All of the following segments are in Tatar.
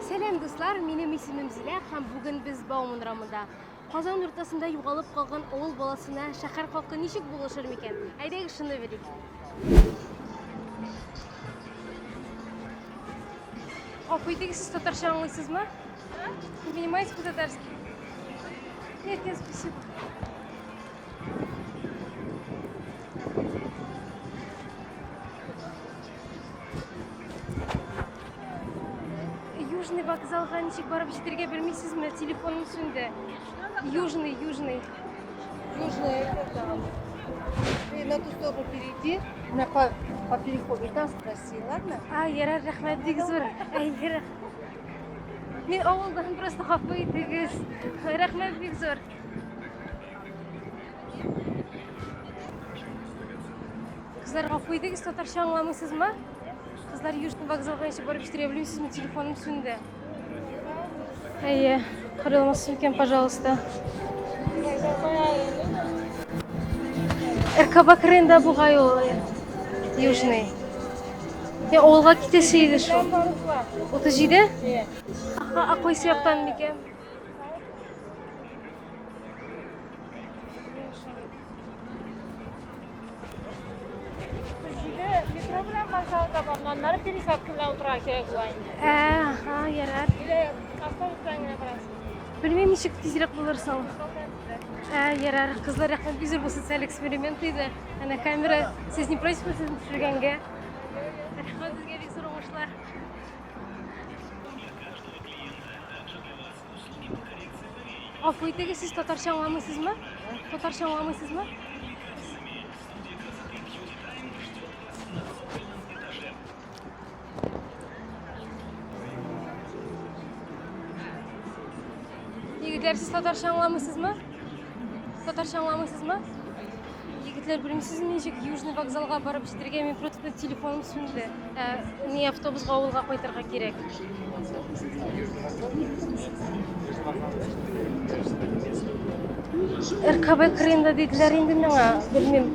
Сәлам дуслар, минем исемем Зилә һәм бүген без Бауман рамында. Казан уртасында югалып калган авыл баласына шәһәр халкы ничек булышыр микән? Әйдәгез шуны белик. Гафу итегез, сез татарча аңлыйсызмы? Вы понимаете по-татарски? Нет, нет, спасибо. Южный вокзалга ничек барып җитәргә белмисезме? Телефоным сүнде. Южный, Южный. Южный это Ты на ту сторону перейди, на по, по переходу, и там спроси, ладно? А, ярар, рәхмәт, бик зур. Әйе, рәхмәт. Мин авылдан просто хафа итегез. Рәхмәт, бик зур. Кызлар, гафу итегез, татарча аңламыйсызмы? Кызлар Южный вокзал буенча барып җитәргә белмим, сезнең телефоным сүнде. Әйе, карый алмассыз микән, пожалуйста? РКБ кырында бугай ул э, Южный. Я авылга китәсе иде шул. 37? Аха, а кайсы яктан микән? Аннары пересадка белән утырырга кирәк була инде. Ә, ха, ярар. Или автобус белән генә барасың. Белмим, ничек тизрәк булырсың. Ә, ярар, кызлар рәхмәт бизер бу социаль эксперимент иде. Әнә камера, сез не против, сез төшергәнгә? Рәхмәт сезгә бик зур уңышлар. Гафу итегез, сез татарча аңламыйсызмы? Татарча аңламыйсызмы? Егетләр, сез татарча аңламыйсызмы? Татарча аңламыйсызмы? Егетләр, белмисезме ничек Южный вокзалга барып җитәргә? Мин просто телефоным сүнде. Ә, ни автобусга авылга кайтырга кирәк. РКБ кырыенда диделәр инде миңа. Белмим,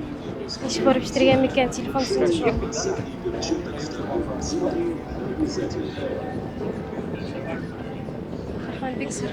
ничек барып җитәргә микән? Телефон сүнде шул. Рахман бик зур.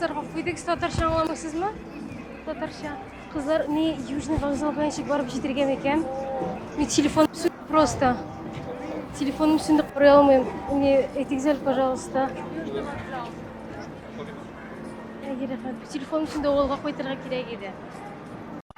Кызларга куйдык татарча аңламыйсызмы? Татарча. Кызлар не южный вокзал белән чик барып җитергән икән. Мин телефон просто. Телефоным сүнде карый алмыйм. Мне этикзель, пожалуйста. Телефоным сүнде авылга кайтырга кирәк иде.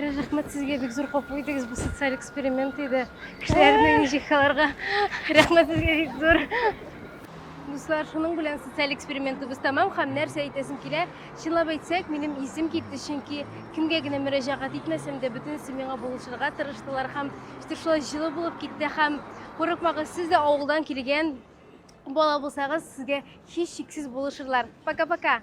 Рәхмәт сезгә бик зур капу итегез, бу социаль эксперимент иде. Кешеләрне ничек аларга? Рәхмәт сезгә бик зур. Дуслар, шуның белән социаль экспериментыбыз тәмам һәм нәрсә әйтәсем килә? Чынлап әйтсәк, минем исем китте, чөнки кемгә генә мөрәҗәгать итмәсәм дә, бөтенесе миңа булышырга тырыштылар һәм işte шулай җылы булып китте һәм курыкмагыз, сез дә авылдан килгән бала булсагыз, сезгә һичшиксез булышырлар. Пока-пока.